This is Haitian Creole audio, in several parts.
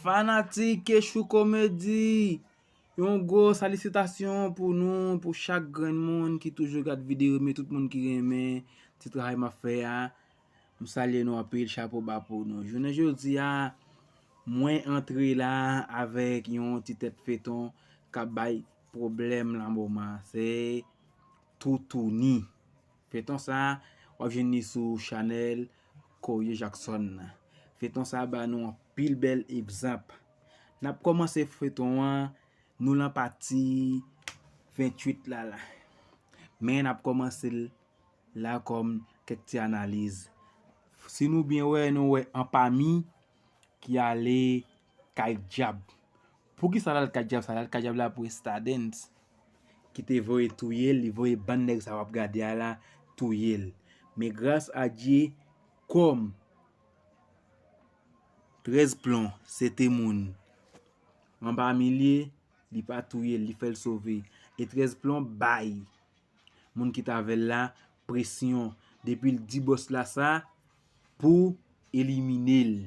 Fanatik Eshou Komedi, yon gwo salisitasyon pou nou, pou chak grenn moun ki toujou gad videyo, reme tout moun ki renmen ti travay map fè a, m salye nou anpil, chapo ba pou nou. Jounen jodi a, mwen antre la avèk yon ti tèt feyton kap bay pwoblèm lan moman, se Toutouni. Feyton sa wap jwenn li sou chanel Corie Jackson nan. Feyton sa ba nou anpil bèl egzanp. Nap kòmanse feyton an nou lan pati 28 la la. Men nap kòmanse l la kòm kèk ti analiz. Si nou byen wè nou wè anpami ki ale kay dyab. Poukisa lal kadjab sa lal kadjab la pou estadens kite voye touyel li voye bann nèg sa wap gade a la touyel men gras a Dye kòm 13 plon se te moun anba milye li pa touyel li fèl sove e 13 plon bay moun ki t avèl la presyon depil di bòs la sa pou eliminel.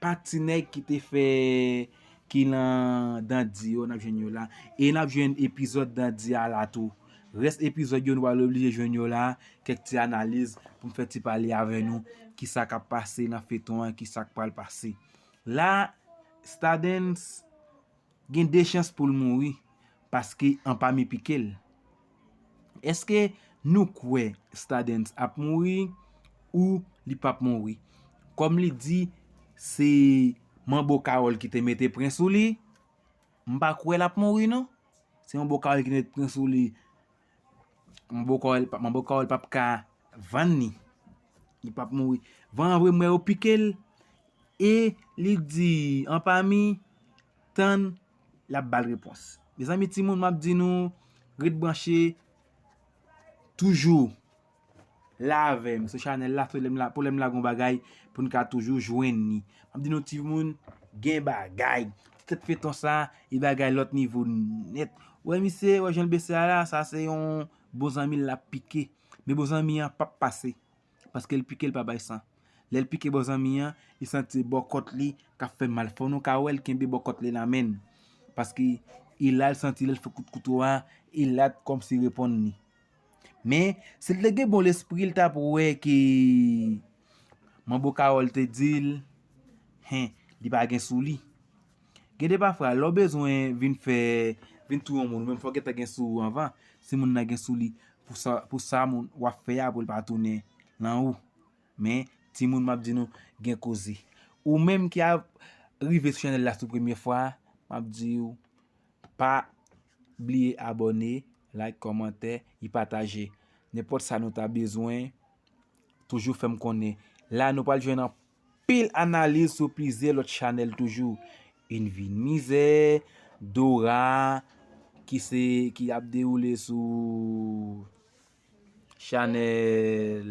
Pa ti nèg ki te fè ki lan dandi yo nap jwenn yo la e nap jwenn epizòd dandi a la tou rès epizòd yo nou pral oblije jwenn yo la kèk ti analiz poum fè ti pale avè nou kisa kap pase nan feyton an kisa k pral pase la stadens Gen de chans pou l mouri paske anpami pike l. Èske nou kwè Stadens ap mouri ou li p ap mouri? Kòm li di se manbo Kawòl ki te mete pren sou li, m pa kwè l ap mouri non. Se manbo Kawòl ki te mete pren sou li. Manbo kòl manbo kòl pap ka vann ni li pap mouri van an vre m wè yo pikel e li di anpami tann lap bal repons mezanmi timoun map di nou ret branche toujou. la avèm sou chanèl la pou lèm la gon bagay poun ka toujou jwenn ni map di nou timoun gen bagay ti tèt feyton sa e bagay lòt nivo nèt wè misye wè janl bese a la sa se yon bon zanmil lap pike men bon zanmi an pap pase paskel pikel pa bay san lèl pike bon zanmi an li santi se bòkòt li kap fè mal fò nou ka wèl kenbe bòkòt li nan menn paske e lal santi lèl fè kout kouto a e lap kòmsi reponn ni. Men, si l te gen bon lespri, l t ap wè ke manbo Kawòl te di l, Hen, li pa gen sou li. Gen de pafwa, lè w bezwen vin fè, vin touye yon moun, ou menm fò w gentan gen sou ou anvan, si moun nan gen sou li, pou sa w ap fè a pou l pa tounen nan ou. Men, timoun m ap di nou, gen koze. Ou menm ki ap rive sou chanèl la sou premye fwa, m ap di ou, pa bliye abòne. Like kòmantè y pataje nenpòt sa nou ta bezwen toujou fèm konnen la nou pral jwenn anpil analiz sou plizyè lòt chanèl toujou yn vi n mizè Dora ki se ki ap dewoule sou chanèl.